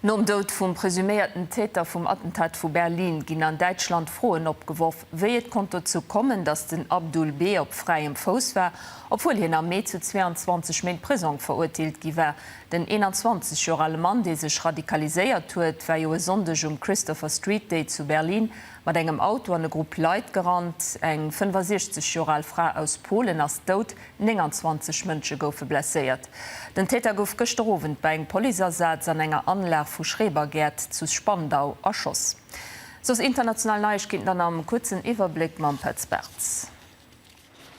Nom Doud vum presuméierten Täter vum Attentat vu Berlin ginn an Däitschland Froen opgeworf, wéi et konnt dozou kommen, datt den Abdul B. op fräiem Fouss war, obwuel hien am Mee zu 22 Méint Prisong verurteelt gi war. Den 21 Joer ale Mann, dee sech radikaliséiert huet, war jo e Sonndeg um Christopher Street Day zu Berlin mat engem Auto an e Grupp Leit gerannt. Eng 65 Joer al Fra aus Polen ass dout, 29 Mënsche goufe blesséiert. Den Täter gouf gëschter Owend bei engem Policeasaz an enger Anlag vu Schrebergäert zu Spandau erschoss. Soss international Neiegkeeten dann am kuerzen Iwwerbléck mam Petz Bartz.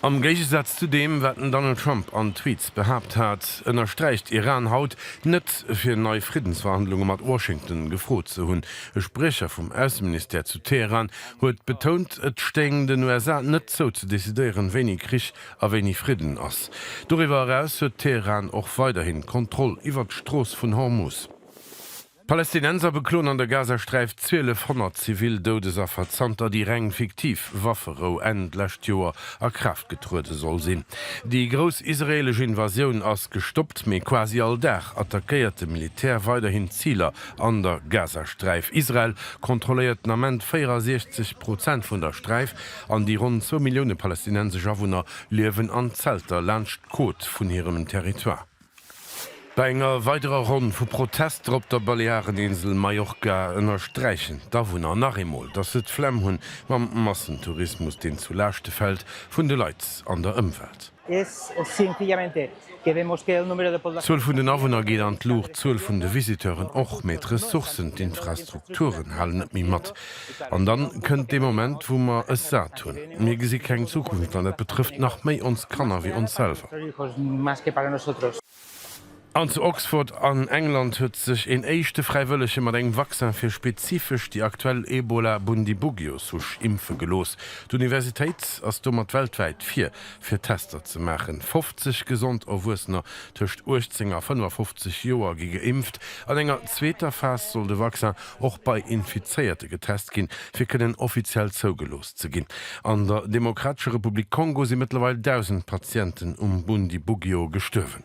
Am Géigesaz zu deem, wat den Donald Trump an Tweets behaapt hat, ënnersträicht Iran haut, net fir nei Friddensverhandlunge mat Washington gefrot ze hunn. E Spriecher vum Ausseministère zu Teheran huet betount, et stéing den USA net zou ze decidéieren, wéini Krich a wéini Fridden ass. Doriwwer eraus huet Teheran och weiderhin d'Kontroll iwwert d'Strooss vun Hormus. D'Palästinenser bekloen an der Gazasträif 1.200 zivil Doudesaffer, zanter déi reng fiktiv Wafferou Enn d'lescht Joer a Kraaft getruede soll sinn. Déi grouss israeelesch Invasioun ass gestoppt, mee quasi all Dag attackéiert de Militär weiderhin Ziler an der Gazasträif. Israel kontrolléiert den Ament 64 Prozent vun der Sträif. An déi ronn zwou Millioune palästinensesch Awunner liewen an Zelter laanscht d'Côte vun hirem Territoire. Bei enger weiderer Ronn vu Protester op der Baleareninsel Mallorca ënnersträichen d'Awunner nach eemol, datt se d'Flemm hunn mam Massentourismus, deen zu Laaschte fält vun de Leit an der Ëmwelt. D'Zuel vun den Awunner geet an d'Luucht, d'Zuel vun de Visiteuren och, mee d'Ressourcen, d'Infrastrukturen halen net méi mat. An dann kënnt dee Moment, wou mer es sat hunn. Mir gesi keng Zukunft an dat betrëfft nach méi ons Kanner wéi ons selwer. An zu Oxford an England huet sech een éischte Fräiwëllege mat engem Vaccin fir spezifesch déi aktuell Ebola-Bundibugyo-Souche impfe gelooss. D'Universitéit ass domat weltwäit vir, fir Tester ze maachen. 50 gesond Erwuessener tëscht 18 a 55 Joer gi geimpft. An enger zweeter Phas soll de Vaccin och bei Infizéierte getest ginn, fir kënnen offiziell zougelooss ze ginn. Ze ginn. An der Demokratescher Republik Kongo si mëttlerweil 1.000 Patienten um Bundibugyo gestuerwen.